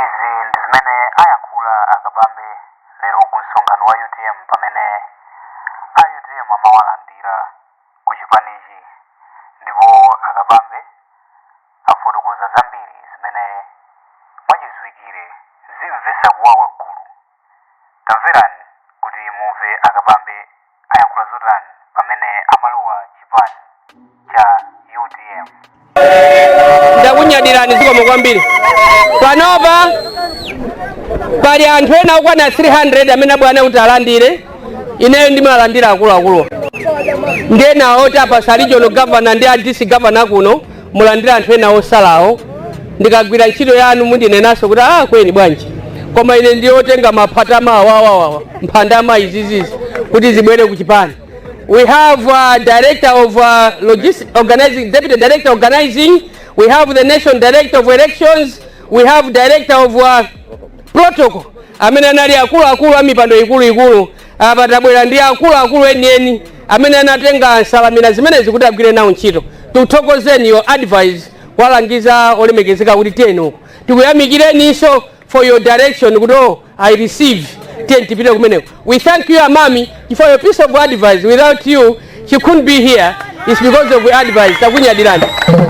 izi ndi zimene ayankhula a Kabambe lero ku msonkhano wa utm pamene a utm amawalandira ku chipanichi ndipo a Kabambe afotokoza zambiri zimene mwachidziwikire zimvetsa kuwawa gulu Tamverani kuti mumve a Kabambe ayankhula zotani pamene amalowa chipani cha utm. ndakunyadirani zikomo kwambiri panopa pali anthu ena okwana 300 amene abwera kuti alandire ineyo ndimalandira akuluakulu ndiye enawo tapasa regional governor ndi a district governor kuno mulandire anthu ena otsalawo ndikagwira ntchito yanu mundinenanso kuti ah kweni bwanji koma ine ndiyotenga maphata mawawawawa mphandama izizizi kuti zibwere ku chipani we have uh, director of organizing deputy director organizing we have the national director of elections we have director of uh, protocol amene anali akuluakulu a mipando ikuluikulu Apa tabwera ndi akuluakulu enieni amene anatenga nsanamira zimenezi kuti agwire nawo ntchito. Tikuthokozeni your advice kuwalangiza olemekezeka kuti tiyeni uko. Tikuyamikireninso for your direction kuti oh, I receive tiyeni tipite kumeneko. We thank you amami for your piece of advice without you she couldn't be here it's because of your advice takunyadirani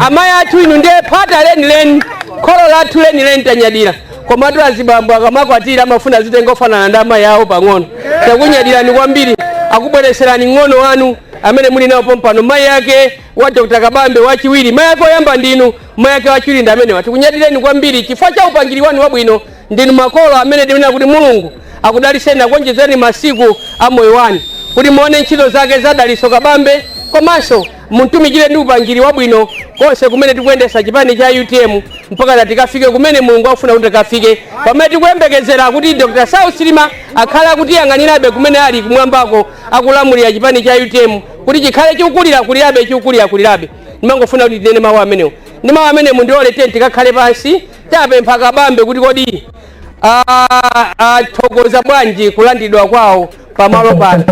amayi athu inu ndiye phata lenileni kholo lathu lenileni tanyadira komatu azibambo akamakwatira amafuna azitenga ofanana ndi amayi awo pang'ono takunyadirani kwambiri akubweretserani mng'ono wanu amene muli nawo pompano mayi ake wa dr kabambe wachiwiri mayi ake oyamba ndinu mayi ake wachiwiri ndi amenewa tikunyadireni kwambiri chifukwa cha upangiri wanu wabwino ndinu makolo amene timanena kuti mulungu akudaliseni akuonjezereni masiku a moyo wanu kuti muone ntchito zake za Dalitso Kabambe komanso mutumikire ndi upangiri wabwino konse kumene tikuyendetsa chipani cha utm mpaka tikafike kumene mulungu akufuna kuti tikafike pamene tikuyembekezera kuti dr Saulos Chilima akhale akutiyang'anirabe kumene ali kumwambako akulamulira chipani cha utm kuti chikhale chikukulira kulirabe chikukulira kulirabe ndimangofuna kuti tinene mawu amenewo ndi mawu amenewo mundilole ndikakhale pansi tapempha kabambe kuti kodi ah, athokoza bwanji kulandidwa kwawo pamalo pano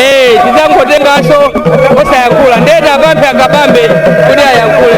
Eh, tidzangotenganso osayankhula ndiye tiwapemphe a Kabambe kuti ayankhule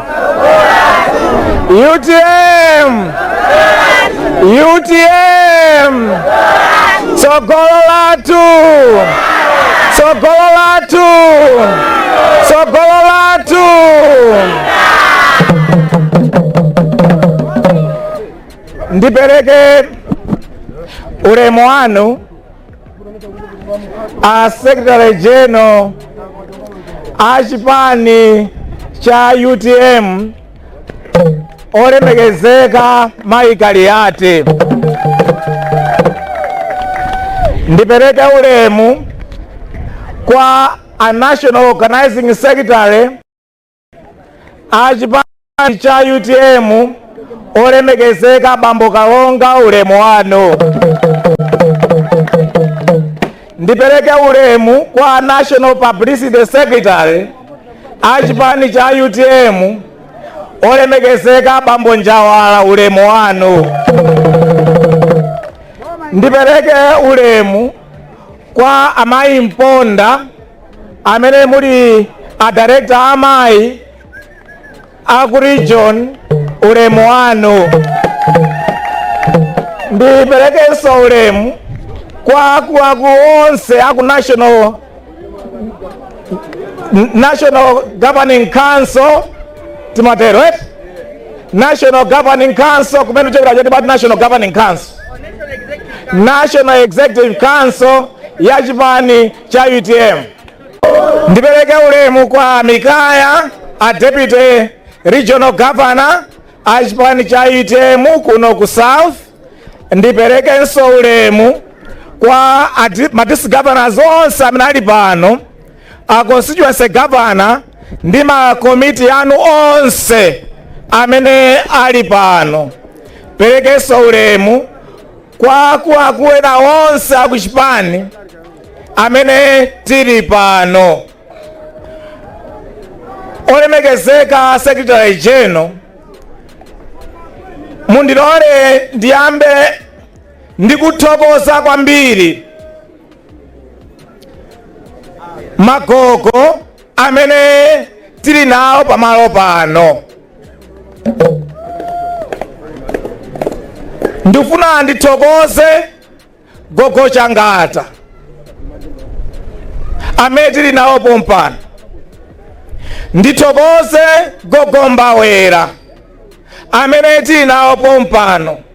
utm utm tsogolo lathu tsogolo lathu tsogolo lathu ndipereke ulemu wanu a secretary general a chipani cha utm olemekezeka mayi kaliati ndipereke ulemu kwa a national organizing secretary a chipani cha utm olemekezeka bambo kalonga ulemu wanu ndipereke ulemu kwa national publicity secretary a chipani cha utm olemekezeka bambo njawala ulemu wanu ndipereke ulemu kwa amayi mponda amene muli a director amayi aku region ulemu wanu ndiperekenso ulemu kwa akuluakulu onse aku national national governing council timatero eti national governing council kumene chokera choti pati national governing council national executive council ya chipani cha utm ndipereke ulemu kwa mikaya a deputy regional governor a chipani cha utm kuno ku south ndiperekenso ulemu kwa a di- ma district governors onse amene ali pano a constituency governor ndi ma komiti anu onse amene ali pano perekenso ulemu Kwa akuluakulu ena onse a ku chipani amene tili pano, olemekezeka Secretary General, mundilole ndiyambe ndikuthokoza kwambiri magogo amene tili nawo pamalo pano. ndifuna ndithokoze gogo changata amene tili nawo pompano ndithokoze gogo mbawera amene tili nawo pompano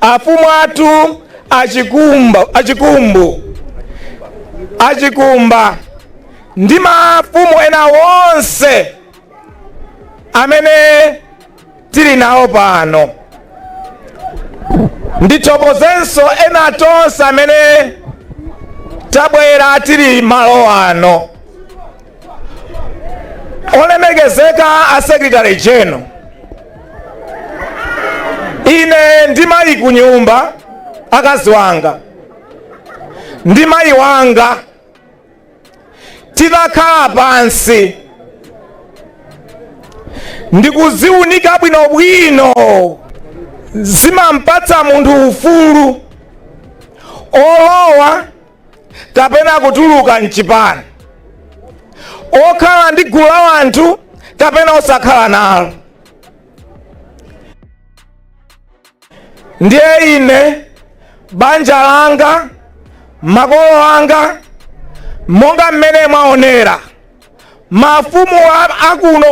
afumu athu achikumbu achikumba ndi mafumu ena onse amene tili nawo pano ndithokozenso ena tonse amene tabwera tili malo ano olemekezeka a secretary general ine ndi mayi ku nyumba akazi wanga ndi mayi wanga tinakhala pansi ndikuziunika bwinobwino zimampatsa munthu ufulu olowa kapena kutuluka mchipani okhala ndi gulu la anthu kapena osakhala nalo ndiye ine banja langa makolo anga monga mmene mwaonera mafumu a- akuno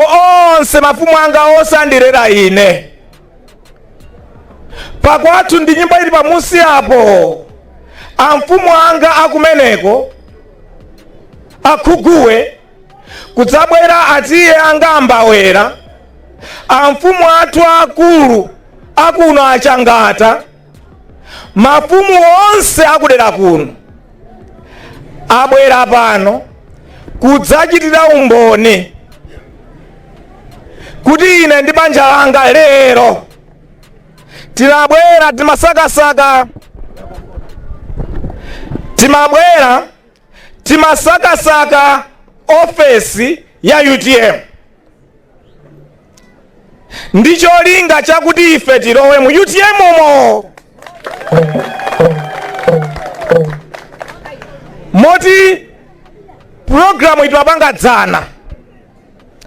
onse mafumu anga onse andirera ine pakwathu ndi nyumba ili pamunsi apo amfumu anga akumeneko akhuguwe kudzabwera atiye anga ambawera amfumu athu akulu akuno achangata mafumu onse akudera kuno abwera pano kudzachitira umboni kuti ine ndi banja langa lero tinabwera timasakasaka timabwera Timasakasaka ofesi ya utm ndi cholinga chakuti ife tilowe mu utm umo moti pulogalamu tinapanga dzana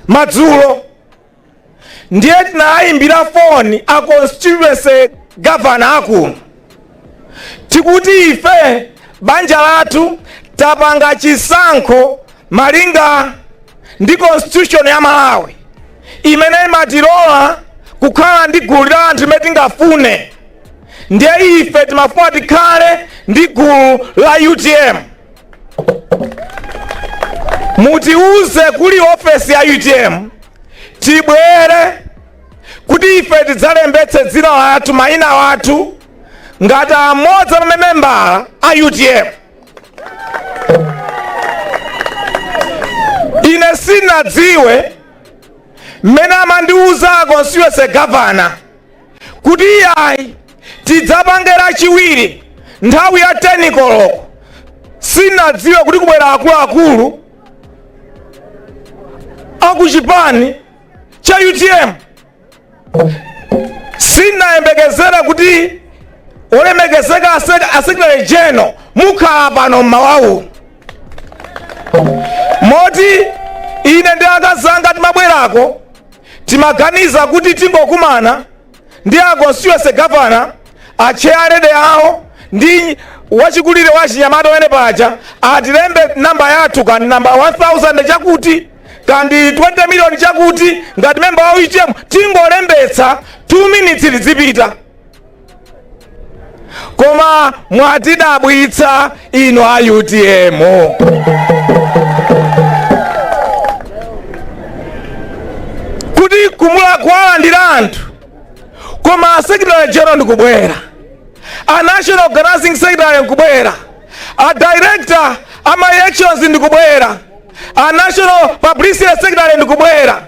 madzulo ndiye tinayimbira foni a constituency governor akuno tikuti ife banja lathu tapanga chisankho malinga ndi constitution ya malawi imene imatilola kukhala ndi gulu la anthu limene tingafune ndiye ife timafuna tikhale ndi gulu la utm mutiuze kuli ofesi ya utm tibwere kuti ife tidzalembetse dzina lathu mayina athu ngati amodzi a mamembala a utm ine sinadziwe mmene amandiuza constituency governor kuti iyayi tidzapange lachiwiri nthawi ya 10 koloko sinadziwa kuti kubwera akuluakulu akuchipani cha utm sinayembekezera kuti olemekezeka ase- a secretary general mukhala pano mmawa uno moti ine ndi akazanga timabwerako timaganiza kuti tingokumana ndi a constituency governor atche alede awo ndi wachikulire wa chinyamata wene paja atilembe namba yathu kandi namba 1000 chakuti kandi 20 miliyoni chakuti ngati memba wa utm tingolembetsa 2 minutes ndizipita koma mwatidabwitsa inu a utm kuti kumatha kuwalandira anthu koma a secretary general ndikubwera a national organizing secretary ndikubwera a director a ma elections ndikubwera a national publicity secretary ndikubwera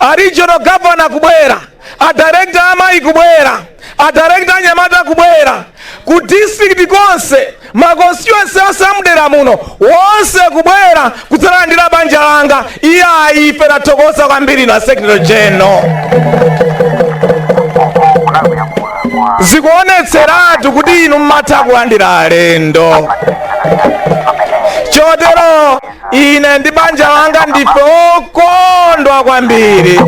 a regional governor kubwera a director amayi kubwera a director anyamata kubwera ku district konse ma constituency onse amudera muno wonse kubwera kudzalandira banja langa iyayi ife tathokoza kwambiri ndi a secretary general zikuonetseratu kuti inu mmatha kulandira alendo chotero ine ndi banja langa ndife okondwa kwambiri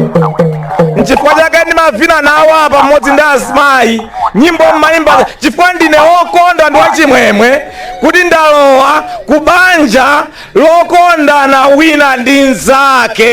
nchifukwa chake ndimavina nawo apa pamodzi ndi azimayi nyimbo mmayimba chifukwa ndine okondwa ndi wachimwemwe kuti ndalowa ku banja lokondana wina ndi mnzake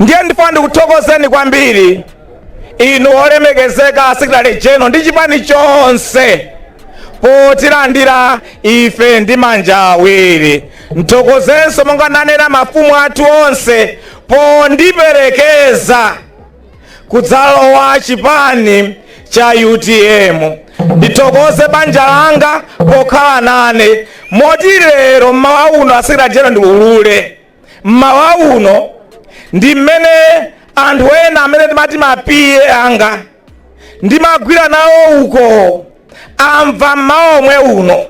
ndiye ndifuna ndikuthokozeni kwambiri inu olemekezeka secretary general ndi chipani chonse potilandira ife ndi manja awiri ndithokozenso monga ndanena mafumu athu onse pondiperekeza kudzalowa chipani cha utm ndithokoze banja langa pokhala nane moti lero mmawa uno a secretary general ndiulule mmawa uno ndi mmene anthu ena amene timati mapiye anga ndimagwira nawo uko amva mmawa omwe uno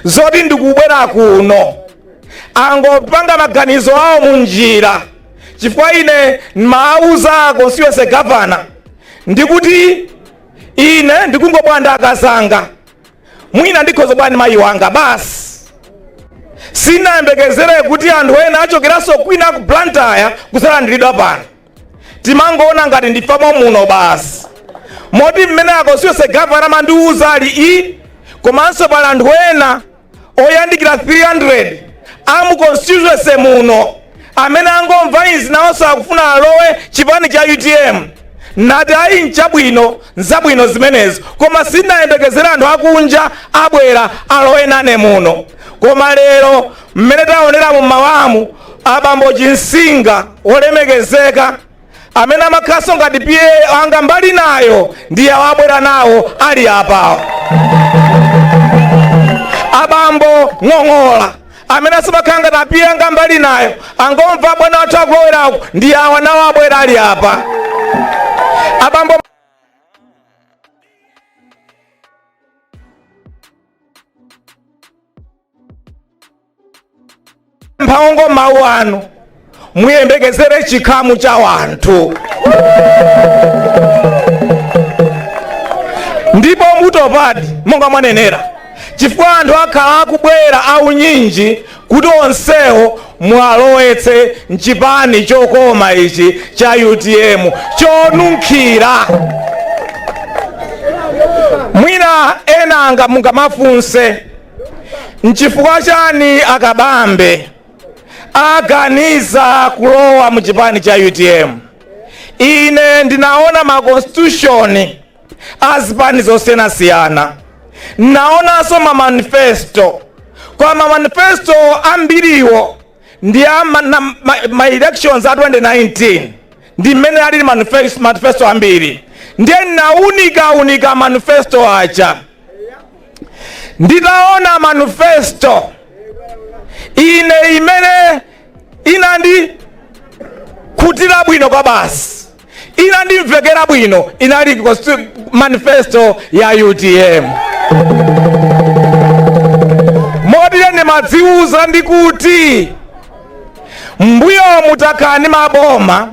zoti ndikubwera kuno angopanga maganizo awo munjira chifukwa ine ndimawauza a constituency governor ndikuti ine ndikungobwera ndi akazanga mwina ndikhoza bwani mayi wanga basi sinayembekezere kuti anthu ena achokeranso kwina ku blantyre kusalandiridwa pano timangoona ngati ndifamo muno basi moti mmene a constituency governor amandiwuza aliyi komanso pali anthu ena oyandikira 300 amu constituency muno amene angomva izi nawonso akufuna alowe chipani cha utm nati ayi nchabwino nzabwino zimenezo koma sinayembekezera anthu akunja abwera alowe nane muno koma lero mmene taonera mu mawamu abambo chinsinga olemekezeka amene amakhanso ngati PA anga mbali nayo ndiye awabwera nawo ali apawo abambo ng'ong'ola amene amakhala ngati PA anga mbali nayo angomva bwana athu akulowerako ndi awa nawo abwera ali apa abambo mphaongo mawu anu muyembekezere chikhamu cha wanthu ndipo mutopadi monga mwanenera chifukwa anthu akhala akubwera aunyinji kuti onsewo mwalowetse mchipani chokoma ichi cha utm chonunkhira mwina enanga mungamafunse nchifukwa chani a kabambe aganiza kulowa mu chipani cha utm ine ndinaona ma constitution a zipani zosiyanasiyana ndinaonanso ma manifesto koma manifesto ambiriwo ndi a ma, na, ma, ma elections a 2019 ndi mmene alili manifesto, manifesto ambiri ndiye ndinaunika unika manifesto aja nditaona manifesto ine imene inandikhutira bwino kwabasi inandimvekera bwino inali consti- manifesto ya utm moti ine ndimadziwuza ndi kuti mbuyomu takhala ndi maboma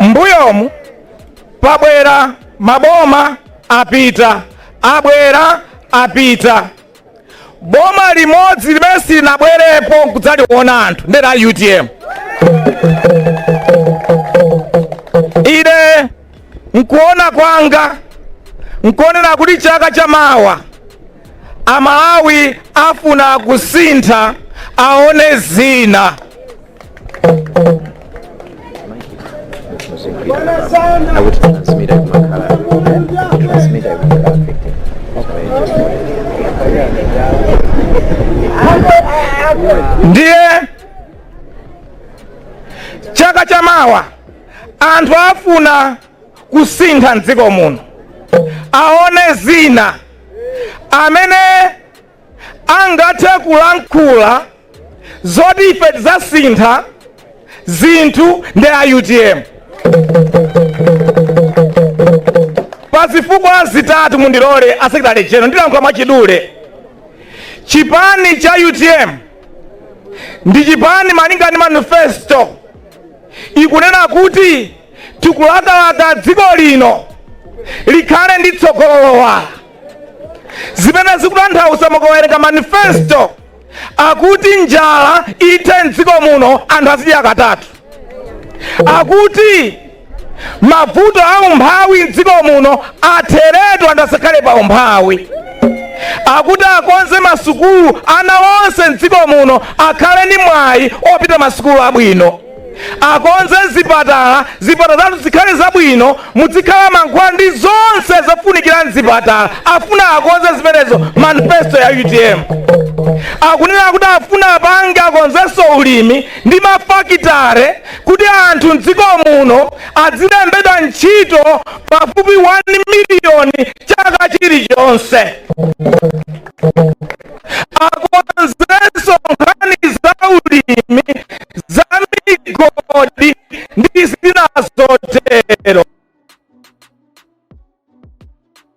mbuyomu pabwera maboma apita abwera apita boma limodzi limene silinabwerepo kudzaliona anthu ndera utm ine mkuona kwanga nkonena kuti chaka cha mawa amalawi afuna kusintha aone zina I would transmit it makala. Transmit it makala 15. ndiye chaka cha mawa anthu afuna kusintha mdziko muno aone zina amene angathe kulankhula zoti ife tidzasintha zinthu ndi a utm pa zifukwa zitatu mundilole a Secretary General ndilankhula mwachidule chipani cha utm ndi chipani malinga ndi manifesto ikunena kuti tikulakalaka dziko lino likhale ndi tsogolo lowala zimene zikutanthauza mukawerenga manifesto akuti njala ithe mdziko muno anthu azidya katatu akuti mavuto a umphawi mdziko muno atheretu anthu asakhale pa umphawi akuti akonze masukulu ana onse mdziko muno akhale ndi mwayi opita masukulu abwino akonze zipatala zipatala zathu zikhale zabwino mudzikhala mankhwala ndi zonse zofunikira mzipatala afuna akonze zimenezo manifesto ya utm akunena kuti afuna apange akonzenso ulimi ndi mafakitare kuti anthu m'dziko muno adzilembedwa ntchito pafupi 1 miliyoni chaka chilichonse. Akonzenso nkhani za ulimi, za migodi ndi zina zotero.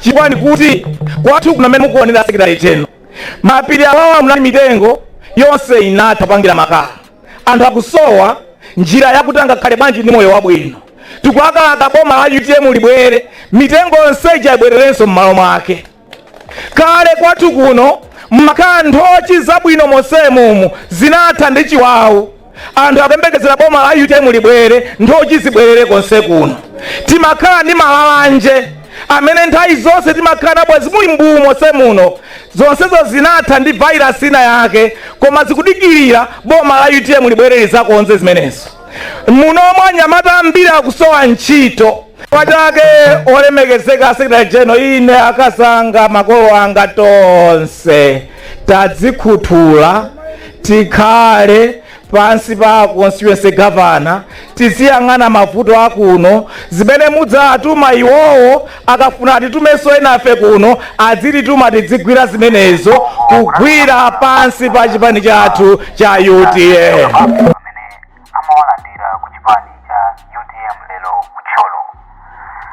chifukwa ndikuti kwathu kuno mmene mukuonera Secretary General mapiri awawa munali mitengo yonse inatha kupangira makala anthu akusowa njira yakuti angakhale bwanji ndi moyo wabwino tikulakalaka boma la utm libwere mitengo yonse ija ibwererenso m'malo mwake kale kwathu kuno mmakhala nthochi zabwino monsemumu zinatha ndi chiwawu Anthu akuyembekezera boma la utm libwere nthochi zibwerere konse kuno. Timakhala ndi malalanje amene nthawi zonse timakhala nabwezi muli mbuu monse muno. Zonsezo zinatha ndi virus ina yake koma zikudikirira boma la utm libwere lizakonze zimenezo. Muno anyamata ambiri akusowa ntchito. chifukwa chake olemekezeka secretary general ine akazi anga makolo anga tonse tadzikhuthula tikhale pansi pa constituency governor tiziyang'ana mavuto akuno zimene mudzawatuma iwowo akafuna atitumenso enafe kuno adzitituma tidzigwira zimenezo kugwira pansi pa chipani chathu cha utm amawalandira ku chipani cha utm lero ku Thyolo.